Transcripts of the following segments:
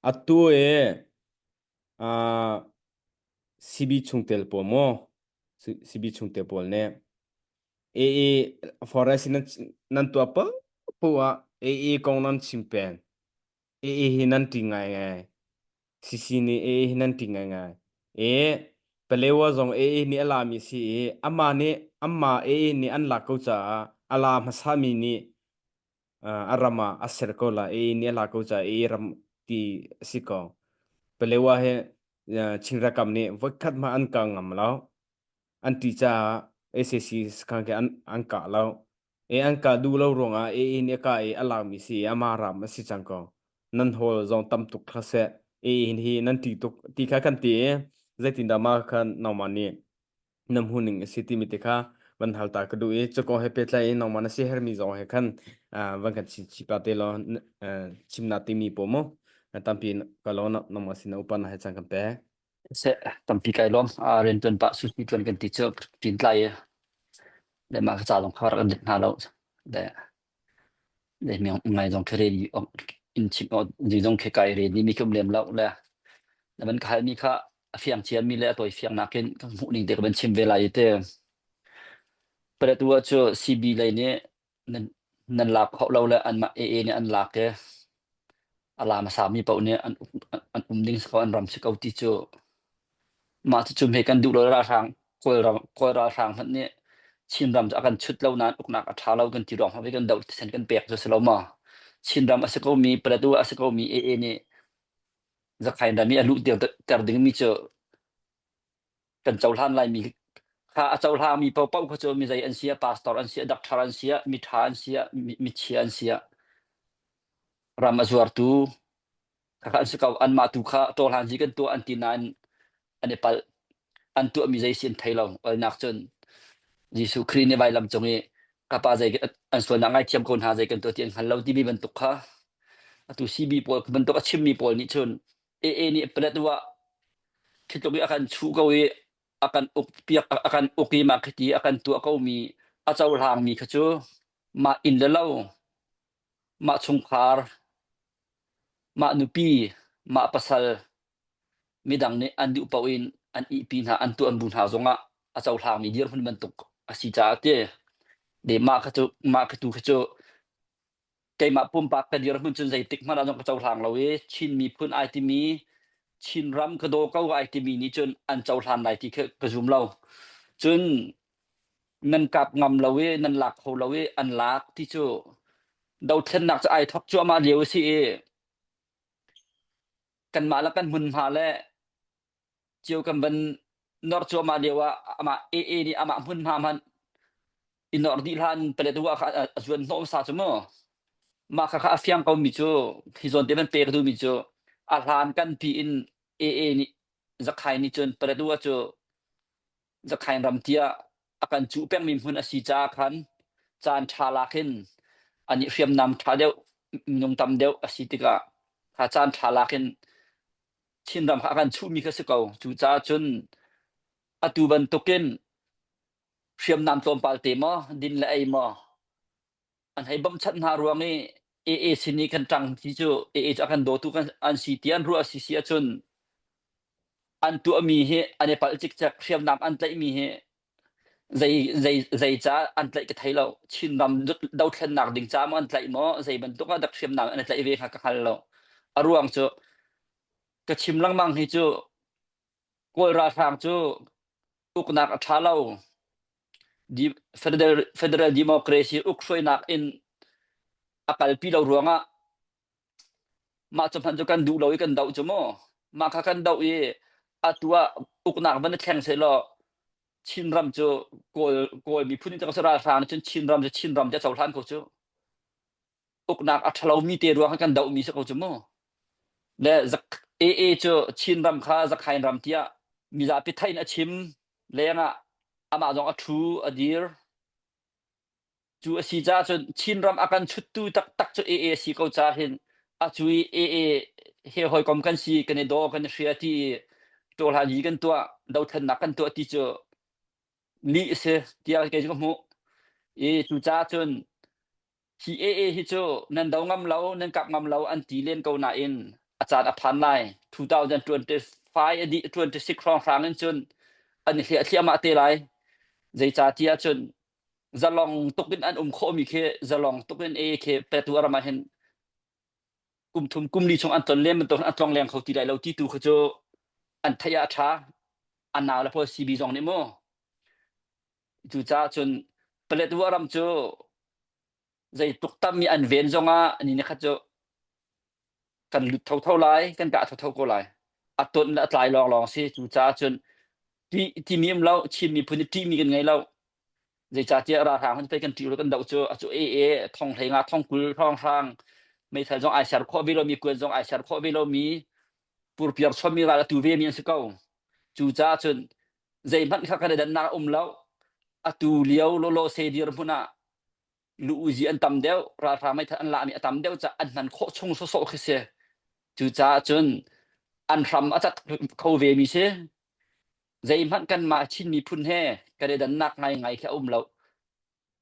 Atu e ah CB chungtel pawl maw CB chungtel pawl nih AA forest in nan nan tuah popo ah AA kong nan chim peng AA hi nan ṭih ngaingai CC nih AA hi nan ṭih ngaingai e Palewa zong AA nih a lami a si i amah nih amah AA nih an lak ko caah a la hmasami nih uh, a ram ah a ser ko la i ni la ko cha i ram ti si ko pelewa he uh, chingra kam ni voikhat ma an ka ngam lo an ti cha ACC khang ke an an ka lo e an ka du lo ruanga e i ni ka e ala mi si amara ma si chang ko nan hol zong tam tuk kha se e hin hi nan ti tuk ti kha kan ti zeitin da ma khan naw man ni na hmuhning a si timi te kha van hal ta ka duh i cakaw he pehtlai in nangmah na siaherhmi zong he khan ah, van kan chim chim pa te law n- eh, chimnak timi paw mu eh, tampi ka law na- nangmah sin na upana he chan kan pek Se tampi kai lom a rian tuan pa susi tuan kan ti cu tin tlai le ma ka cha long khawar kan dit hna lo de Nei mi ngai zong khe re ni in chim o ni zong khe kai re ni mi kum lem lo le na ban khai mi kha a fiang chia mi le a toi fiang nak in kan hmuh ning te ka ban chim ve lai te pare tu cu CB lei nih nan nan lak hau lo le an mah AA nih an lak e a la hmasami paoh nih an um, an um ding sakaw an ram si ko ti cu mah cu me kan duh lo ralhrang kawlram kawl ralhrang hmanh nih Chinram cu a kan chut lo nain uknak a ṭha lo kan ti ruang hmanh kan doh thisen kan pek cu si lo ma Chinram a si komi Plateau a si komi AA nih Zakhain ram i a luh ter dingmi cu kan cohlan laimi kha a cohlangmi paohpaoh kha cu mi zei an si a pastor an si a doctor an si a miṭha an si a michia an si a ram a zuartu khakha an si ko anmah tu kha tawhlan hi kan tuah an ti nain an i palh an tuahmi zei si an thei lo alnak cun Jesuh Khrih nih vailam cung i kapa zei an sualnak ngai thiam ko hna zei kan tuah ti an hngal lo timi bantuk kha atu sibi pawl bantuk a chimmi pawl nih cun AA nih Paletwa khi tluk i a kan chuh ko i a kan uk piak a kan uk i mah khiti a kan tuah komi a cohlangmi kha cu mah inn le lo mah chungkhar mah nupi mah pasal midang nih an duh paoh in an ihpi hna an tuan bu hna zongah a cohlangmi dirhmun bantuk a si caah ti de mah kha cu mah khi tu khi cu keimah pumpak ka dir hun cun zeitik hmanh ah zong ka cohlang lo i Chin miphun ai timi Chin ram ka daw ko ai timi nih cun an cohlan lai ti ka, ka zum lo cun nan kap ngam lo i nan lak kho lo i an lak ti cu dothlennak cu ai thok cuahmah lio a si i kanmah le kan hmunhma le cio kan van nor cuahmah lio ah amah AA nih amah hmun hna hmanh i nor dih hlan palet wa kha a zuan hnawm sa cu mu mah kha kha a fiang ko mi cu hi zawn te man pek du mi cu a hlan kan pi in AA nih zakhai ni cun palet wa cu zakhai ram tia a kan cu peng mi hmun a si ca khan caan tha lak in ani hriam nam tha deuh minung tam deuh a si tikah kha caan tha lak in Thingram kha a kan chuhmi kha si ko. Cucaah cun atu bantukin hriamnam tlawmpal te maw, din le ei maw an hei bamchanh hna ruang i AA sin i kan ṭang ti cu AA cu a kan dawtu kan an si ti an ruah a si si ahcun an tuahmi hi an i palh cikcek hriamnam an tlaihmi hi Zeicah an tlaih ka thei lo. Chinram dothlennak ding ca maw an tlaih maw, zeibantuk ah dak hriamnam an i tlaih ve kha ka hngal lo. A ruang cu ka chim lengmang hi cu Kawl ralhrang cu uknak a ṭha lo. Federal democracy uk hruainak in a kalpi lo ruangah Mah cu hmanh cu kan duh lo i kan doh cu mu. Mah kha kan doh i atu ah uknak van i thleng sehlaw Chinram cu Kawl Kawl miphun in cang si ralhrang nih cun Chinram cu Chinram ti a cohlan ko cu. Uknak a ṭhalomi te ruang ah kan dohmi si ko cu mu. Le AA cu Chinram kha Zakhain ram tiah mizapi theih in a chim lengah amah zong a ṭhu a dir. Cu a si caah cun Chinram a kan chuttu taktak cu AA a si ko caah hin a cu i AA he hawikom kan si kan i daw kan i hria ti i ṭawhlanyi kan tuah dothlennak kan tuah ti cu lih a si tiah kei cu ka hmuh i cucaah cun hi AA hi cu nan do ngam lo nan kap ngam lo an ti len ko nain a caan a phan lai 2025 a dih 26 hrawnghrang in cun an i hliah thliahmah te lai zeicahtiah cun zalong tuk in an um khawhmi khi zalong tuk in e khi petu aram ah hin kum thum kum li chung an ton len bantuk an tlong leng kho ti lai lo ti tu khu cu an thei a tha an nau le pho CB zong nih mu cu ca cun palet ram cu Zeitluk tam i an ven zongah ni ni khat cu kan lut thotho lai, kan kah thotho ko lai. A ton le a tlai lawnglawng si. Cu caah cun tih timi um lo, Chin miphun i ṭihmi kan ngei lo. Zeicahtiah ralhrang hun pei kan ṭih lo kan doh cu. A cu e e, thong hleinga, thong kul, thong hrang, meithal zong ai ser khawh ve lomi, kuan zong ai ser khawh ve lomi, purpiar chawmmi ral a tu vemi an si ko. Cu caah cun zeihmanh kha kan i dannak um lo. A tu lio lawlaw se dir hmun ah lu-uzi an tam deuh, ralhrang meithal an lahmi a tam deuh caah an hman khawh chung sawsawh khi si. Cucaah cun an hram a cat kho vemi si. Zeihmanh kanmah Chin miphun he kan i dannak ngaingai khi a um lo.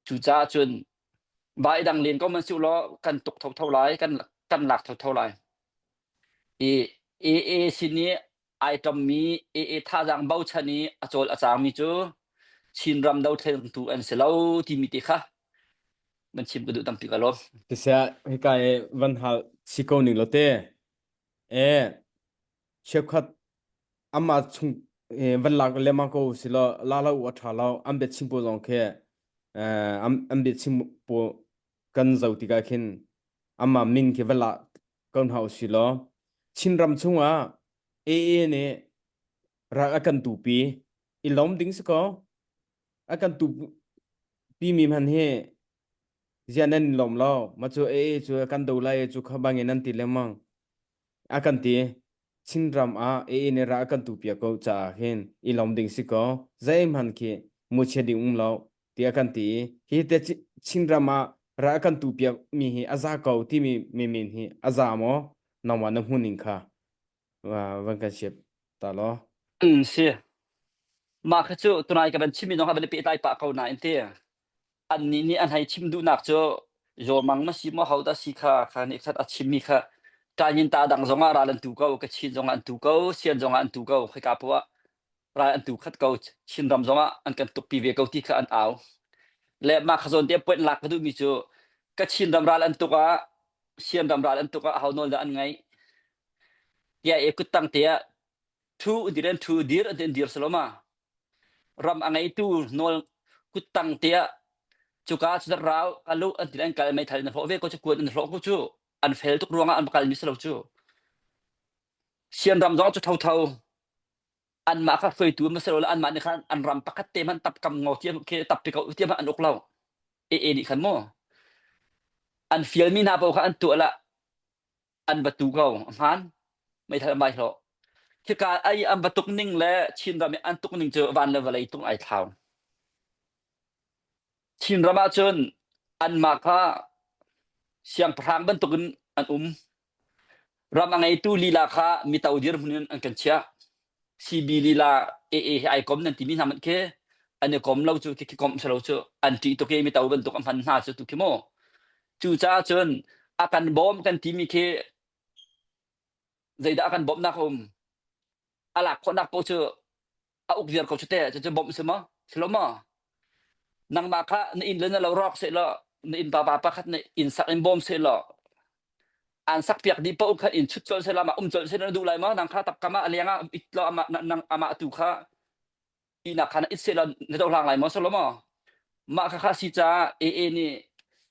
Cucaah cun vai dang len ko man si law kan tuk thotho lai, kan, kan lak thotho lai. AA sin i ai ṭommi AA thazaang bochan i a cawl a cangmi cu Chinram dothlentu an si lo timi te kha nan chim ka duh tampi ka lawm. Siseh, hika i van hal si ko ning law te, e cheukhat amah chung eh, van lak lemmang ko si law la lo u a ṭha lo an bia chim pawl zong khi eh, an, an bia chim pawl kan zo tikah khin amah min khi van la ko hna u si law Chinram chungah AA nih rak a kan tupi i lawm ding si kaw a kan tupi mi hman hi zian nan lawm lo ma cu AA cu a kan do lai cu kha bangin nan ti lemang a kan ti Chinram ah AA nih ra a kan tupi ko caah hin i lawm ding si kaw zei hman khi mu chia ding um lo tiah kan ti i hi te Chinram ah ral kan tu piak mi hi a za ko timi mi min hi a za maw nangmah na hmuh ning kha van kan siap ta lo mm si mah kha cu tunai ka van chim mi zong van pe tlai pa ko na in ti an ni nih an hei chim duhnak cu zawmang ma si mo ho da si kha kha nih khat a chim mi kha tanyin ta dang zong ah ral an tu ko ka chin zong an tu ko sian zong an tu ko khika puah ral an tu khat ko Chin ram zong ah an kan tukpi ve ko ti kha an au le mah kha zawn te point lak ka duhmi cu ka Chin ram ral an tuk ah Sian ram ral an tuk ah hau nawl da an ngai tia e kuttang te ah thu dir an thu dir an dir saloma ram angaitu nol kuttang te ah cuka cu rau alu an ti an kal mai thal na fo ve ko chu kuan an fo ku chu an fel tuk ruanga an kal mi salo chu sian ram zong chu tho tho anmah kha hruaitu hmanh sehlaw anmah nih khan an ram pakhat te hmanh tap kam ngo tiang khi tap pi ko tiang an uk lo e e nih khan mu an fialmi hna paoh kha an tuah la an batu ko hman meithal an bai hlo khika ai an batuk ning le chin ram i an tuk ning cu van le vawlei tung ai thlau chin ram ahcun anmah kha siangpahrang bantukin an um Ram a ngeitu lila kha mito dirhmun in an kan chiah. CB lila AA hi ai kom nan timi hna manh khi an i kom lo cu khi komh si lo cu an ṭih tuk i mito bantuk a hman hna cu tu khi mu. Cucaah cun a kan bawm kan timi khi zeidah a kan bawmhnak a um? A lak khawhnak paoh cu a uk ziar ko chate cucu bom si ma silo ma nangmah kha na in le na lo rawk se lo na in baba pakhat na in sak in bom se lo an sak piak di po kha in chut chol se la ma um chol se na du lai ma nang kha tap kama alianga it lo ama ama tu kha ina khana it se lo na do lang lai ma solo ma ma kha kha si cha e e ni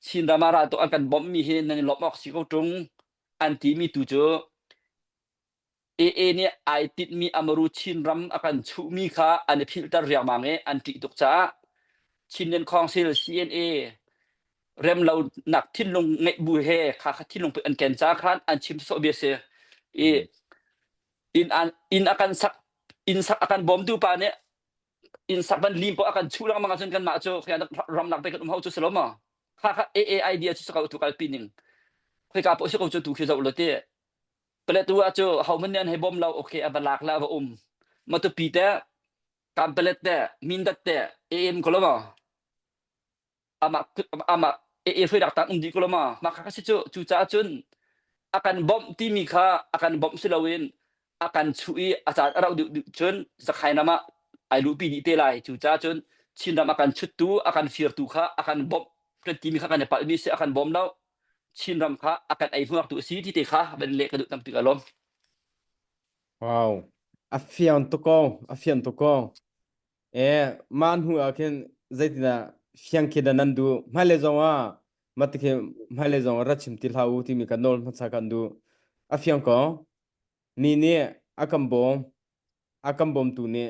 chin rama ra to an kan bom mi he nan lop ok si ko tung an ti mi tu chu Aa nih ai tinhmi a maru Chinram a kan chuhmi kha an i philhter riangmang i an ṭih tuk caah Chinland Council CNA remlonak thinlung ngeih bu he kha kha thinlung put an ken caah khan an chim sawsawh bia a si. I inn, an, inn a kan sak inn sak a kan bawmtu pa nih inn sak van lim paoh a kan chuh lengmang ahcun kanmah cu ramlak pei kan um hau cu si lo maw? Kha kha AA idea cu sa ko tu kalpi ning. Khoika paoh si ko cu tu khi zoh law ti. Paletu ah cu homan nih an hei bawm lo. Okay, a va lak le a va um. Matupi te, kampelet te, mindat te, en ko lama. Ama ama e e hruidak tang undi ko lama. Maka kasi cu cu ca cun akan bom timi kha akan bom si loin akan chu i a caan a rau deuh deuh cun zakhai nama ai lupi ni te lai cu ca cun Chinram akan chuttu akan firtu kha akan bom hrantimi kha kan i palmi si akan bom lo Chinram kha a kan ei hnuaktu a si ti te kha van leh ka duh tam tuk alawm. Wow. A fiang tuk ko. A fiang tuk ko. Eh, mah hnu ah khin zeitindah fiang khi da nan du hmailei zong ah mate khi hmailei zong rat chim ti hlah u timi kan nawl hmasa kan du a fiang ko ni nih a kan bawm a kan bawmtu nih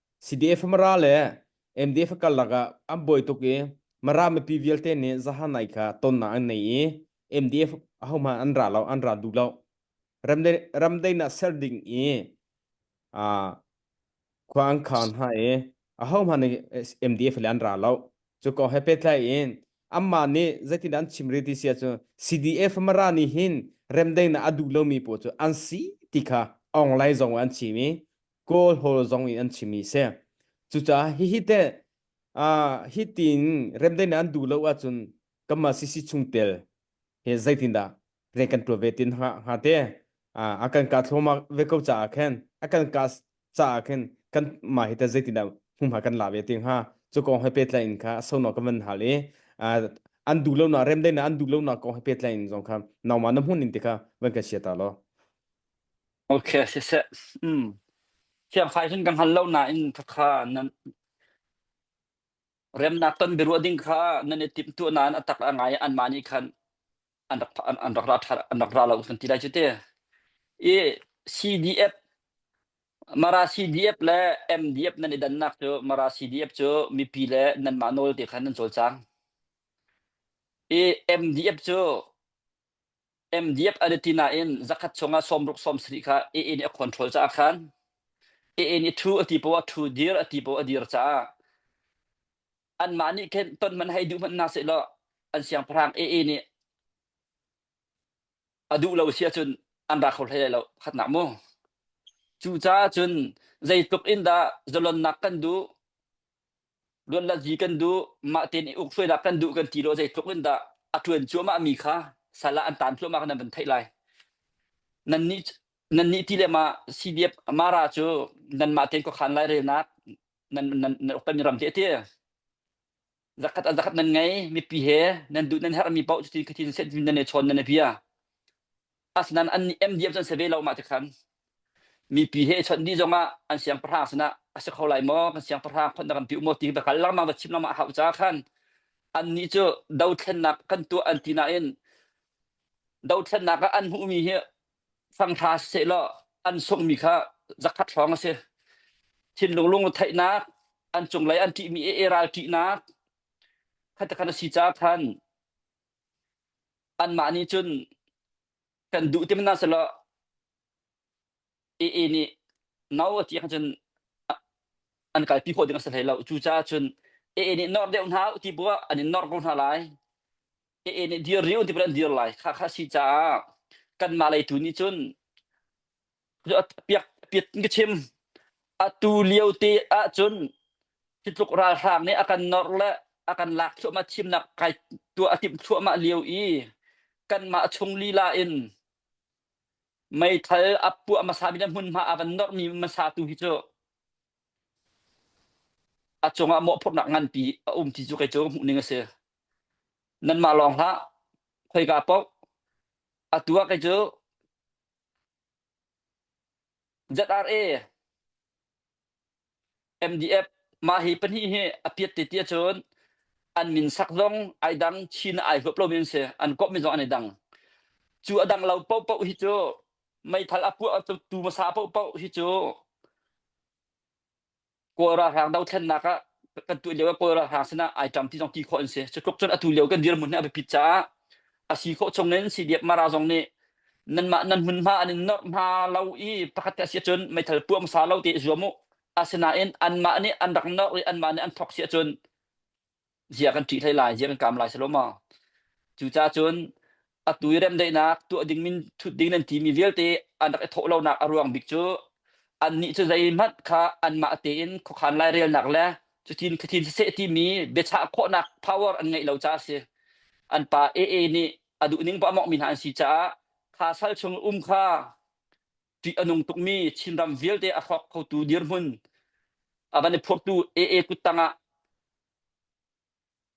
CDF mara le MDF karlak ah an buai tuk i mara mipi vialte nih zahanai kha tonnak an nei i MDF ahohmanh an ra lo an ra duh lo ramdei ramdeinak ser ding i uh, khua an khaan hna i ahohmanh nih MDF le an ra lo cu ko he petlai in amma nih zeitin an chim riti sia cu CDF mara nih hin remdeinak a duh lomi pawl cu an si ti kha onglai zong an chim i kawlhawl zong in an chimi si cucaah hihi teh uh, hi tin remdei na an duh lo ahcun kama sisi chungtel he zeitindah rian kan tuah ve tin ha ha te uh, akan ka thloma ve ko caah khen akan ka caah khen kan ma hi ta zeitindah humha kan la ve ting ha chu kong he petla in kha sono ka van hal i an du lo na rem dei na an du lo na kong he petla in zong kha nauma na mun in te kha van ka sia ta lo Ok, siseh. Hmm. Thiamfai hin kan hngal lo nain thakha nan remnak ton biaruah ding kha nan i timtuah nain atak a ngai an mah nih khan an rak an, an rak ra ṭha- an rak ra lo kan ti lai cu te. I CDF Mara CDF le MDF nan i dannak cu Mara CDF cu mipi le nanmah nawl te khan nan cawl cang. I MDF cu MDF a dati nain zakhat chungah sawmruk sawmsarih kha AA nih a control caah khan AA nih thu a ti poah thu dir a ti poah a dir caah anmah nih khin ton man hei duh hmanh na seh law an siangpahrang AA nih a duh lo si ahcun an ra kho hlei lo khatnak mu cu caah cun zeitluk in dah zalonnak kan duh luanlazi kan duh mah tein i uk hruainak kan duh kan ti lo zeitluk in dah a ṭuan cuahmah mi kha sal ah an taan thluahmah kan van theih lai nan nih nan nih ti le ma CDF mara cu nan mah tein khuakhan lai relnak nan nan nan uktan mi ram te te zakat a zakat nan ngei mipi he nan duh nan herh mi paoh cuti khatin set nan e chon nan e bia Asnan an MDM cun se ve lo mah tikhan mipi he chawnh dih zongah an siangpahrang sinah a si kho lai maw kan siangpahrang phot na kan piu maw ti ka kal lengmang va chim lengmang hau ca khan annih cu dothlennak kan tuah an ti nain dothlennak ah an hmuhmi hi fangṭha seh law an sunghmi kha zakhat hrawng a si thinlung lung theihnak an cunglei an ṭihmi e ral ṭihnak khata khan a si ca khan Anmah nih cun kan duh ti hmanh hna selaw AA nih no a ti ahcun an kalpi khawh ding a si hlei lo. Cucaah cun AA nih nawr deuh hna u ti bu ah an in nawr ko hna lai. AA nih dir rih u ti bu in an dir lai. Khakha a si caah kanmah lei tu nih cun piat in ka chim atu lio te ahcun hi tluk ralhrang nih a kan nawr le a kan lak thluahmah thimnak kai tuah a timh thluahmah lio i kanmah chung lila in meithal a puah hmasa mi le hmunhma a van nawrmi hmasa tu hi cu a cungah mawhphurhnak nganpi a um ti cu kei cu hmuhning a si nanmah lawng hlah khoika poh atu ah kei cu ZRA, MDF, mah hi pahnih hi a piat te ti ahcun an min sak zong ai dang Chin ai huap lomi an si an komhmi zong an i dang cu a dang lo paohpaoh hi cu meithal a puah tu hmasa paohpaoh hi cu Kawl ralhrang dothlennak ah kan tu lio ah Kawl ralhrang sinah ai ṭam ti zong ti khawh an si. Cutluk cun atu lio kan dirhmun hi a biapit caah a si khawh chung in CDF Mara zong nih nanmah nan hmun hma an in norh hma lo i pakhat te a si cun meithal puah hmasa lo ti zuam u. Asinain anmah nih an rak norh i anmah nih an thok si cun zia kan ṭih hlei lai, zia kan kaam lai selaw maw. Cucacun atu i remdaihnak tuah ding min thut ding nan timi vialte an rak i thawh lonak a ruang bik cu annih cu zeihmanh kha anmah tein khuakhan lairelnak le cutin khathin saseh timi biachah khawhnak power an ngeih lo caah a si. An pa AA nih a duhning poah mawngmi hna an si caah kha sal chung um kha Ṭih a nung tukmi Chinram vialte a hrawk khotu dirhmun a van i phurtu AA kut tangah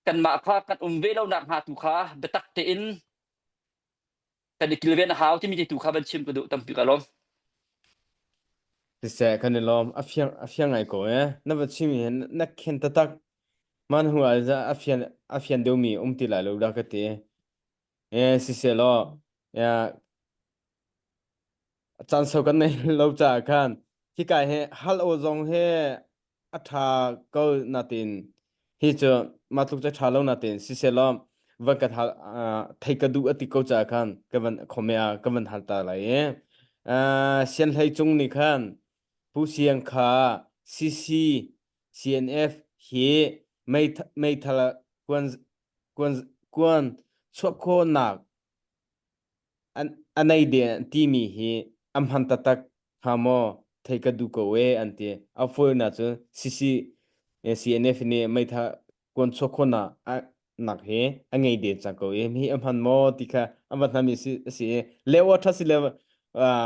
kanmah kha kan um ve lonak hnga tu kha biatak tein kan i kilven a hau timi tu kha van chim ka duh tampi ka lawm. Siseh kan i lawm a fiang a fiang ngai ko eh na va chim hi na khen tatak man hu al za a fian a fian deumi um ti lai lo da ka ti Eh, sisehlaw ya caan sau kan nei lo caah khan hika hi hal aw zong hi a ṭha ko natin hi cu mah tluk cu ṭha lo natin sisehlaw van ka hal ah, theih ka duh a ti ko caah khan ka van khome ah ka van hal ta lai i ah, sianhlei cung nih khan Pu Siang kha CC CNF hi meithal kuan Kuan chuah khawhnak a nei de an timi hi an hman taktak hnga maw theih ka duh ko ee an ti. A fawinak cu CCNF nih meitha kuan chuah khawhnak nak hi a ngei de cang ko ee. Hi an hman maw ti kha an van hnami a si i leo a ṭha si le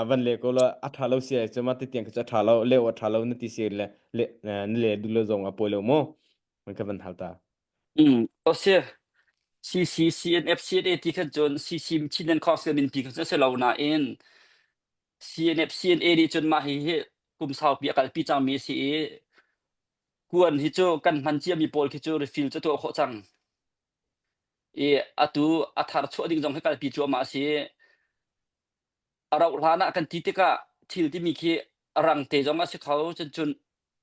van le ko lo a ṭha lo si ai cu ma titiang cu a ṭha lo leo a ṭha lo na ti si le na le duh lo zong a pawi lo maw? Kan van hal ta. Mm, o si. CCCNF, CNA ti khan cun CCM Chin and Khorsang min pi kha cu si lo nain CNF, CNA nih cun mah hi hi kum saupi a kalpi cangmi a si i kuan hi cu kan hman ciami pawl khi cu refill cu tuah khawh cang. I atu a thar chuah ding zong hi kalpi cuahmah a si. A rauh hlan ah kan ti tikah thil timi khi rang te zong a si kho. Cun cun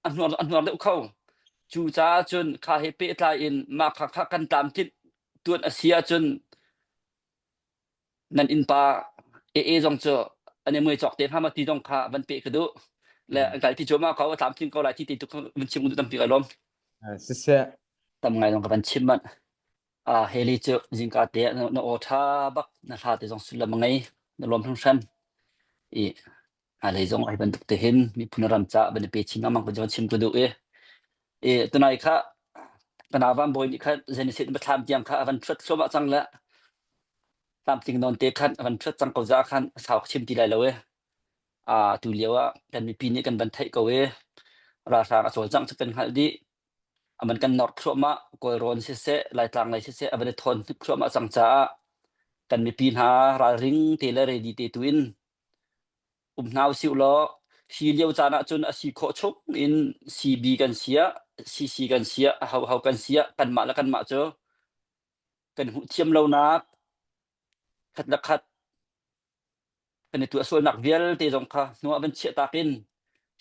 a hnuar deuh kho. Cucaah cun kha he pehtlai in mah kha, kha kan tlamtlinh tuan a si ahcun nan innpa ee zong cu an i mui cawk te hnga ma ti zong kha van pe ka duh le an kal ti cuama ko a tlamtling ko lai ti ti tu van chim tu tampi ka lom siseh tam ngai zong ka van chim man a heli cu zingka te na o tha bak na hla te zong sullam ngai na lom hram hram i Hnalei zong ai bantuk te hin miphun ram ca ban i pe chin ngam ko jon chim tu duh i i tunai kha kana van boy ni kha zen sit ma thlam tiang kha avan thut thluama cang le tam ting non te khan avan thut cang ko za khan sau chim ti lai lo e a tu lio ah kan mipi nih kan ban thai ko e ra hrang a chol jang chapen hal di aman kan nor thluama kol ron se se lai tlang lai se se avan thon thup thluama cang cha kan mipi hna ral ring te le ready te tu in Um hna usih ulaw hi lio caan ahcun a si khawh chung in CB kan siah CC kan siah a hoho kan siah kanmah le kanmah cu kan hmuh thiam lonak khat le khat kan i tuah sualnak vialte zong kha hnu ah van chiah tak in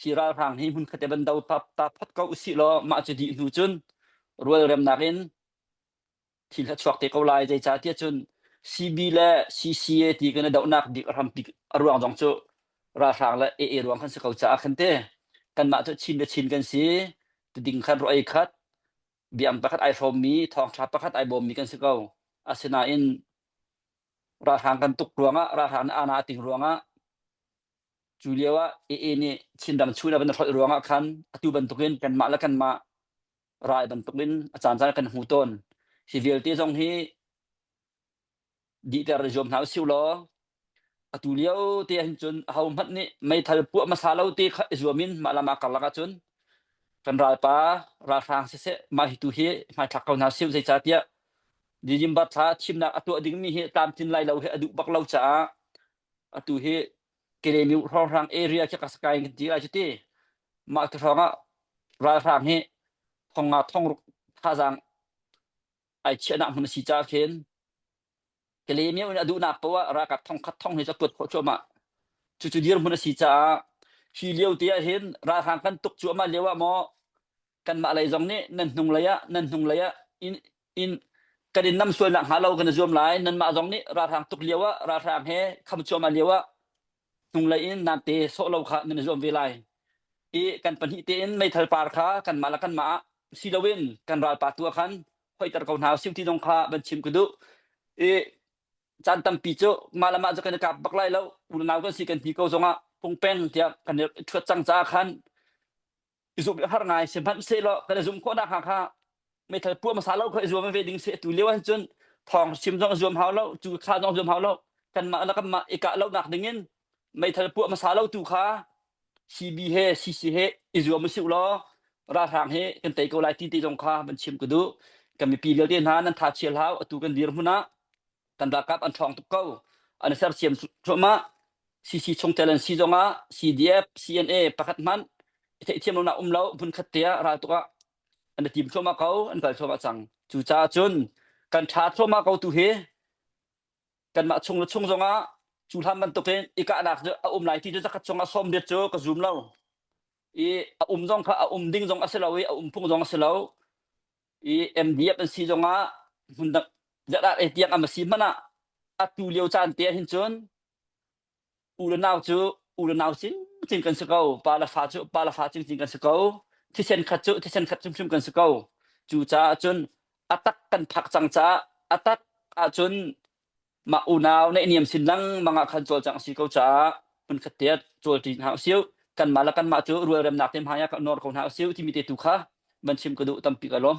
hi ralhrang hi hmun khat i van do ta phot ko usih law mah cu dih hnu cun rualremnak in thil a chuak te ko lai zeicahtiah cun CB le CCA ti kan i dohnak dik a hrampik a ruang zong cu ralhrang le AA ruang kan si ko caah khan te kanmah cu chin le chin kan si tiding khan ruah ei khat biang pakhat ai hrawmmi thawngtha pakhat ai bawmmi kan si ko asinain ralhrang kan tuk ruangah ralhrang nih ana a ting ruangah cu lio ah AA nih Chin ram chung in a van hrolh ruangah khan atu bantukin kanmah le kanmah rai bantukin a caancaan kan hmu tawn. Hi vialte zong hi dihter zuam hna usih law atu lio te hin cun ho hmanh nih meithal puah hmasa lo te kha i zuamin mah lam ah karlak ahcun kan ralpa ralhrang siseh mah hi tu hi hmaithlak ko hna siu zeicah tiah Dijimbat thla thimnak a tuah dingmi hi tlamtlin lai lo hi a duh bak lo caah atu hi Kelemiu hrawnghrang area khi Kasakai in kan ti lai cu ti. Mah tu hrawng ah ralhrang hi thong nga thongruk thazaang ai chiahnak hmun a si caah khin Kelemiu nih a duhnak poh ah ralkap thongkhat thong hi cu a kuat khawh cuahmah. Cucu dirhmun a si caah hi lio te ah hin ralhrang kan tuk cuahmah lio ah maw kanmah lei zong nih nan hnung lei ah nan hnung lei ah in in kan in nam sual nak hnga lo kan i zuam lai nanmah zong nih ralhrang tuk lio ah ralhrang he kham cuam a lio ah hnung lei in nan te sawh lo kha nan i zuam ve lai i kan pahnih te in meithal par kha kan mah le kan mah ah si lo in kan ral pa tu ah khan hoiter ko hna sim ti zong kha van chim ka duh i caan tampi cu mah le mah cu kan i kap bak lai lo unau kan si kan hni ko zong ah pungpeng tiah kan i chuat cang caah khan i zup i har ngai sihmanhsehlaw kan i zum khawhnak hnga kha meithal pua hmasa lo kha i zuam ve ding si tu lio ahhin cun thawng sim zong zuam hau lo cu kha zong zuam hau lo kanmah le kanmah i kah lonak dingin meithal puah hmasa lo tu kha CB he CC he i zuam u si law ralhrang he kan tei ko lai ti ti zong kha van chim ka duh kan mipi lio te hna nan tha chial hau atu kan dir hmun ah kan ralkap an ṭhawng tuk ko an i sersiam cuahmah CC chungtel an si zongah CDF CNA pakhat hmanh i theihthiam lonak um lo hmun khat te ah ral tuk ah an i tim thluahmah ko an kal thluahmah cang cucaah cun kan ṭha thluahmah ko tu hi kanmah chung le chung zongah cu hlan bantukin i kahnak cu a um lai ti cu zakhat chung ah sawm riat cu ka zum lo i a um zong kha a um ding zong a si lo i a um phung zong a si lo i MDF an si zongah hmun dang zarat ei tiang am a si hmanh ah atu lio caan te ah hin cun u le nau cu u le nau cingcing kan si ko pa le fa cu pa le fa cingcing kan si ko thisen khat cu thisen khat hrimhrim kan si ko cu caah cun atak kan phak cang caah atak ahcun Mah unau naihniam sin lengmang ah khan cawlcangh a si ko caah hmunkhat te ah cawlṭi hna u sih. Kanmah le kanmah cu rualremnak te hmaiah kan nawr ko hna u sih, timi te tu kha van chim ka duh tampi ka lawm.